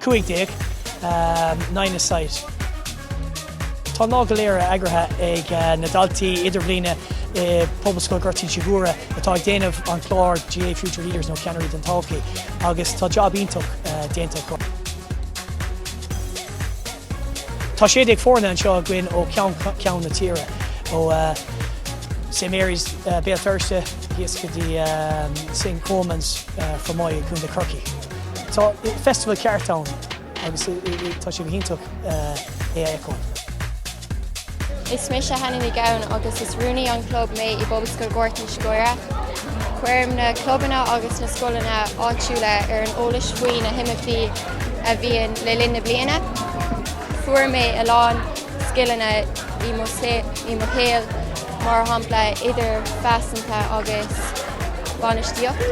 15. nine-a-side. Tá an lá go léir eagraithe ag na daltaí idirbhliana i bPobalscoil Ghort Inse Guaire atá ag déanamh an chláir GAA Future Leaders nó Ceannairí don Todhchaí agus tá jab iontach déanta acu. Tá sé déag foirne anseo againn ó cheann ceann na tíre, ó St Mary's, Béal Feirste, thíos go dtí St Colman's, Fermoy i gContae Chorcaí. Tá festival ceart ann agus tá sé go hiontach é a fheiceáil. Is mise Hannah Ní Ghabhann agus is rúnaí an chlub mé i bPobalscoil Ghort Inse Guaire. Cuirim na clubanna agus na scoileanna áitiúla ar an eolas faoi na himeachtaí a bhíonn le linn na bliana. Fuair mé a lán scileanna i mo i mo shaol mar shampla idirphearsanta agus bainistíocht.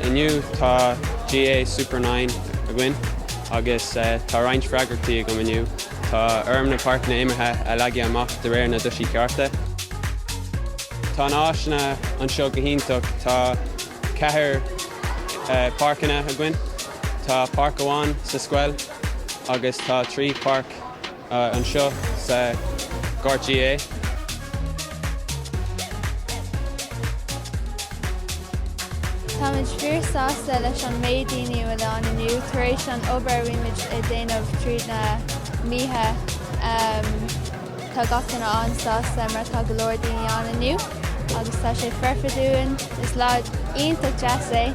Inniu tá GAA Super Nine againn agus tá roinnt freagrachtaí agam inniu. Tá orm na páirceanna imeartha a leagadh amach de réir na dtoisí cearta. Tá na áiseanna anseo go hiontach. Tá ceathair páirceanna againn. Tá páirc amháin sa scoil agus tá trí páirc. anseo sa Ghort GAA. Táimid fíor sásta leis an méid daoine a bhfuil ann inniu tar éis an obair a bhímid ag déanamh tríd na míocha. Tá gach duine an-sásta mar tá go leor daoine ann inniu agus tá sé foirfe dúinn. Is lá iontach deas é.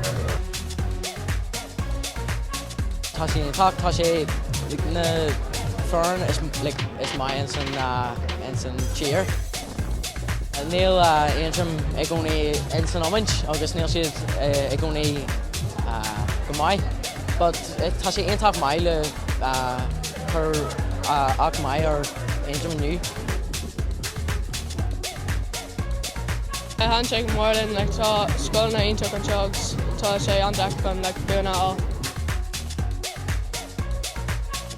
Tá sé iontach, tá sé like na foireann is like is maith ins an ah ins an tír. Níl ah Aontroim i gcónaí ins an iomáint agus níl siad i gcónaí ah go maith but tá sé iontach maith le ah cur ah acht maith ar Aontroim inniu. Thaitin sé go mór linn, like, tá scoileanna iontach anseo agus tá sé an-deacair chun, like, buanna a fháil.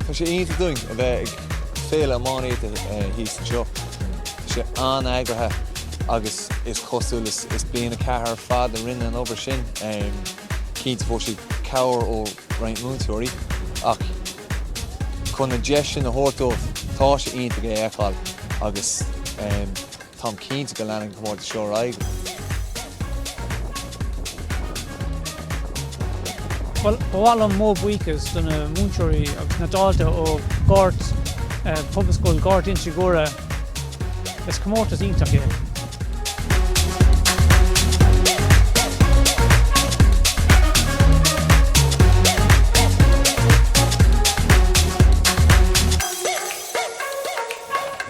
Tá sé iontach dúinn a bheith ag féile iománaíochta eh, thíos anseo. Tá sé an-eagraithe agus is cosúil is, is bliain a ceathair ar fad a rinne an obair sin. Um, Cinnte fuair siad cabhair ó roinnt múinteoirí ach chun an deis sin a thabhairt dóibh, tá sé iontach é a fheiceáil agus um, Táim cinnte go leanfaidh an comórtas seo ar aghaidh. Bhuel, ba mhaith liom mo bhuíochas do na múinteoirí agus na daltaí ó Ghort, Pobalscoil Ghort Inse Guaire. Is comórtas iontach é.